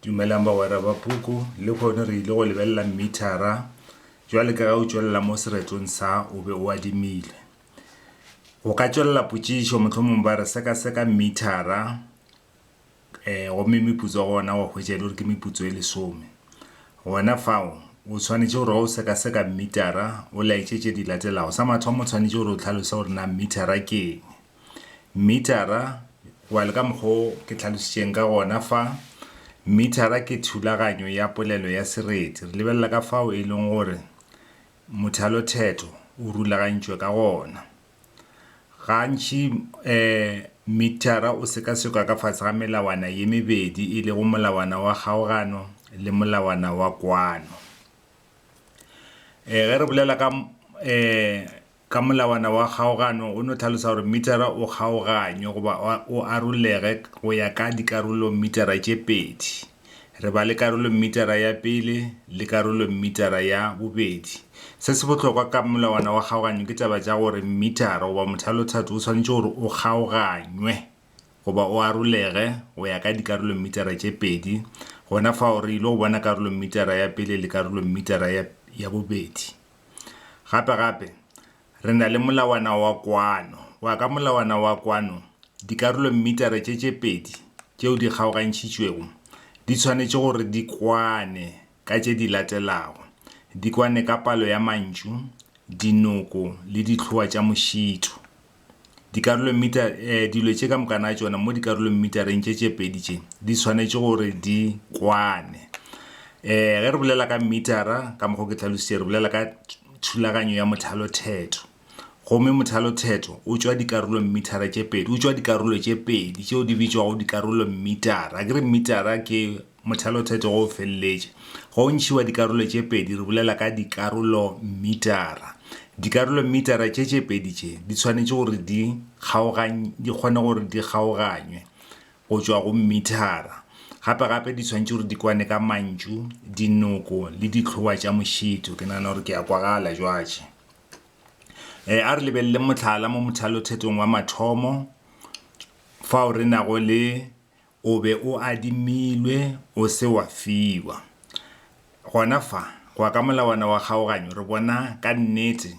Dumelang bagwera ba puku, le kgono re ile go lebelela mmithara. Jwale ka ge o tšwelela mo seretong sa o be o adimile. Go ka tšwelela potšišo mohlomong ba re sekaseka mmithara um gomme meputso wa gona wa hwetša e le gore ke meputso e lesome. Gona fao o tshwanetše gore ga o sekaseka mmithara o laetše tše di latelago. Sa mathomo o tshwanetše gore o tlhalose gore na mmithara ke eng. Mithara, well ka mokgo ke tlhalositšeng ka gona fa, mithara ke thulaganyo ya polelo ya sereti. Re lebelela ka fao e leng gore mothalothetho o rulagantšwe ka gona. Gantši um mithara o sekasekwa ka fase ga melawana ye mebedi e lego molawana wa kgaogano le molawana wa kwano. um ge re bolela ka um Ka molawana wa kgaogano o no hlalosa gore mithara o kgaoganywe goba o arolege go ya ka dikarolomithara tše pedi. Re ba le karolomithara ya pele le karolomithara ya bobedi. Se se bohlokwa ka molawana wa kgaoganyo ke taba tša gore mithara goba mothalothatho o swanetše gore o kgaoganywe goba o arolege go ya ka dikarolomithara tše pedi, gona fao re ile go bona karolomithara ya pele le karolomithara ya bobedi. Gape-gape, re na le molawana wa kwano. Wa ka molawana wa kwano, dikarolommitara tše tše pedi tšeo di kgaogantšhitšwego di tshwanetše gore di kwane ka tše di latelago, di kwane ka palo ya mantšu, dinoko le dihloa tša mošito. Dikarolommitar, e, dilo tše ka mokana tšona mo dikarolommitareng tše tše pedi tše, di swanetše gore di kwane. E, ge re bolela ka mmitara, ka mokgwa o ke hlalošitše, re bolela ka thulaganyo ya mothalothetho. Gomme mothalothetho o tšwa dikarolommitara tše pedi, o tšwa dikarolo tše pedi tšeo di bitšwago dikarolommitara. Akere mmitara ke. Mothalotheto go felletše. Go ntšhiwa dikarolo tše pedi re bolela ka dikarolommitara. Dikarolommitara tše tše pedi tše di tshwanetše gore di kgaogany, di kgone gore di kgaoganywe go tšwa go mmithara. Gape gape di tshwanetše gore di kwane ka mantšu, dinoko le dihlowa tša mošito. Ke nagana gore ke a kwagala jwatše. E, a re lebeleleng mohlala mo mothalothetong wa mathomo fao re nago le O be o adimilwe, o se wa fiwa. Gona fa, go ya ka molawana wa kgaoganyo, re bona ka nnete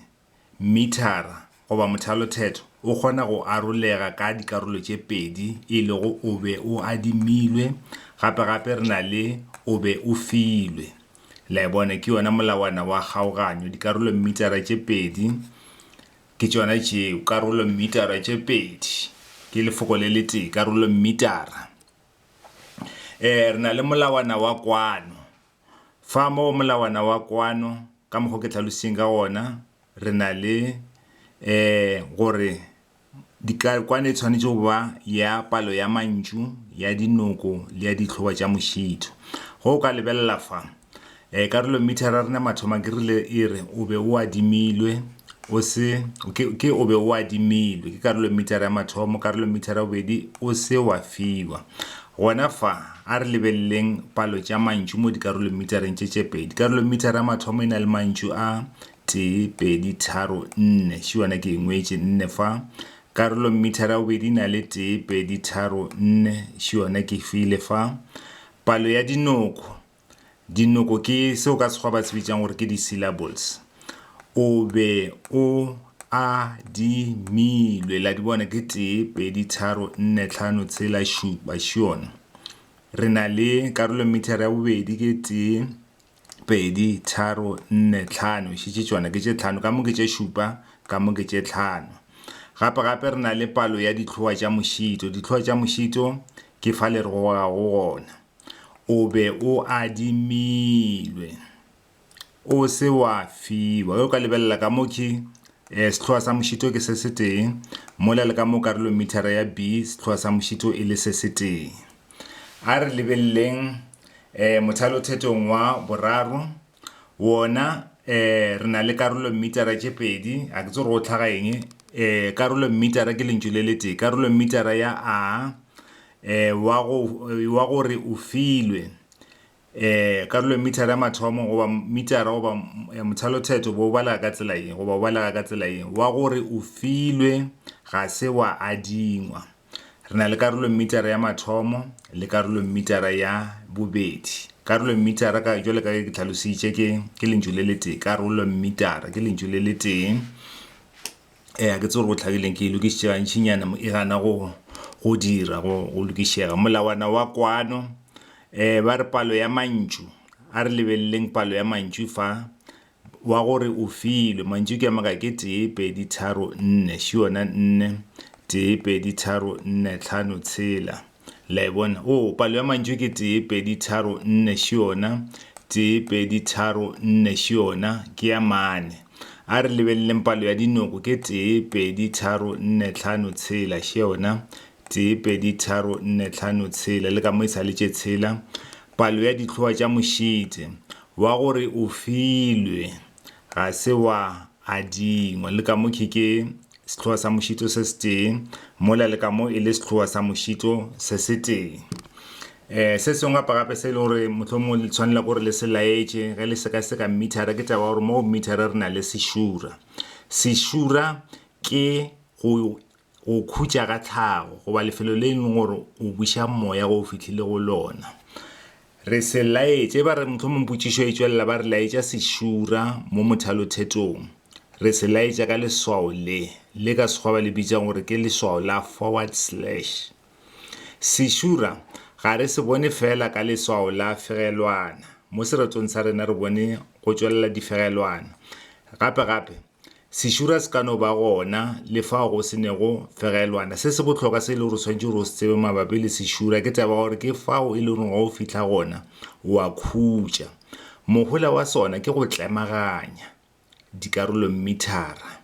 mithara goba mothalothetho o kgona go arolega ka dikarolo tše pedi, e lego o be o adimilwe, gape gape re na le o be o filwe. La e bona, ke yona molawana wa kgaoganyo, dikarolo mmitara tše pedi. Ke tšona tšeo, karolommitara tše pedi. Ke lefoko le letee, karolommitara. Eh, re na le molawana wa kwano. Fa mo molawana wa kwano, ka mokgo ke tlhalositseng ka ona, re na le eh gore dikakwane e tshwanetse go ba ya palo ya mantšu, ya dinoko le ya ditlhoba tša mošito. Go o ka lebelela fa, E, karolo mithara rena mathoma ke rile e re o be o adimilwe o se ke, ke o be o adimilwe ke karolo mithara ya mathomo karolo mithara ya bobedi o se wa fiwa gona fa a re lebeleleng palo tša mantšu mo dikarolo mithareng tše tše pedi karolo mithara ya mathomo e na le mantšu a tee pedi tharo nne še yona ke engwetše nne fa karolo mithara ya bobedi e na le tee pedi tharo nne še yona ke file fa palo ya dinoko Dinoko ke seo ka Sekgowa ba se bitšang gore ke di-syllables. O be o adimilwe, la di bona ke tee, pedi, tharo, nne, tlhano, tshela, šupa, šion. Re na le karolo mithara ya bobedi ke tee, pedi, tharo, nne, tlhano, šetše tšona ke tše tlhano, ka mo ke tše šupa, ka mo ke tše tlhano. Gape gape re na le palo ya ditlhoa tša mošito, ditlhoa tša mošito ke fa le re gogago gona. o be o adimilwe o se wa fiwa ge o ka lebelela ka mo ke um sehloa sa mošito ke se se tee mola le ka mo karolong mithara ya b sehloa sa mošito e le se se tee a re lebeleleng um mothalothetong wa boraro Wona, ee, re na le karolommitara tše pedi, ga ke tsebe gore go hlaga eng, ee, karolommitara ke lentšu le letee, karolommitara ya a, ee, wa go, wa go re o filwe, ee, karolommitara ya mathomo, goba mmitara, goba mothalothetho, bo o balega ka tsela ye, goba o balega ka tsela ye, wa go re o filwe, ga se wa adingwa. Re na le karolommitara ya mathomo le karolommitara ya bobedi. Karolommitara, ka, jwale ka ge ke tlhalositše, ke, ke lentšu le letee. Karolommitara ke lentšu le letee. E, ga ke tse gore go tlhagileng ke e lokišitše gantšinyana mo e gana go, go dira, go, go lokišega. Molawana wa kwano, e, ba re palo ya mantšu, a re lebeleleng palo ya mantšu fa, wa go re o filwe mantšu ke a maka ke tee pedi tharo nne še yona nne tee pedi tharo nne tlhano tshela la e bona o oh, palo ya mantšu ke tee pedi tharo nne še yona tee pedi tharo nne še yona ke ya mane a re lebeleleng palo ya dinoko ke tee pedi tharo nne tlhano tshela še yona tee pedi tharo nne tlhano tshela le ka mo e sa le tše tshela palo ya ditlhoa tša mošite Wa gore o filwe, ga se wa adingwa. Le ka mo khe ke sehloa sa mošito se setee, mola le ka mo e le sehloa sa mošito se setee. Um Se sengwe gape gape se e le gore mohlomongwe le tshwanela ke gore le se laetše ge le sekaseka mmithara, ke taba ya gore mo go mmithara re na le sešura. Sešura ke go go khutša ka tlhago, goba lefelo le e leng gore o buša moya go fihlile go lona. Re se laetše, e ba re mohlomong potšišo e tšwelela ba re laetša sešura mo mothalothetong. Re se laetša ka leswao le, le ka Sekgowa ba le bitšang gore ke leswao la forward slash. Sešura ga re se bone feela ka leswao la fegelwana, mo seretong sa rena re bone go tšwelela difegelwana. Gape-gape, Sešura se ka no ba gona le fao go se nego fegelwana. Se se bohloka se e le gore tshwanetse gore o se tsebe mabapi le sešura ke taba gore ke fao e le gore ga o fihla gona wa khutša. Mohola wa sona ke go tlemaganya dikarolommithara.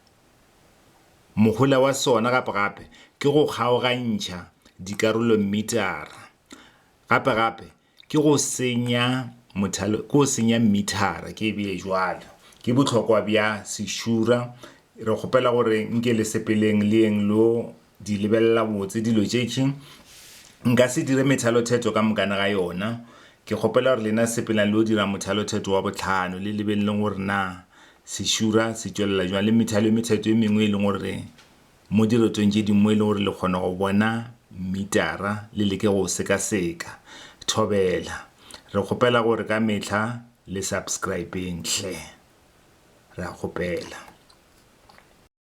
Mohola wa sona gape gape ke go kgaogantšha dikarolommitara. Gape gape ke go senya mothale ke go senya mmithara ke bee jwalo ke bohlokwa bja sešura re kgopela gore nke le sepeleng le yeng lo di lebelela botse dilo tšetši nka se dire methalothetho ka mokana ga yona ke kgopela gore lena sepelang lo dira mothalothetho wa botlhano le lebeleleng gore na sešura se tšwelela jwang le methalo e methetho e mengwe e leng gore Mo dirotong tše dingwe e le gore le kgona go bona mmitara, le leke go o sekaseka. Thobela. Re kgopela gore ka mehla le subscribeng hle. Re a kgopela.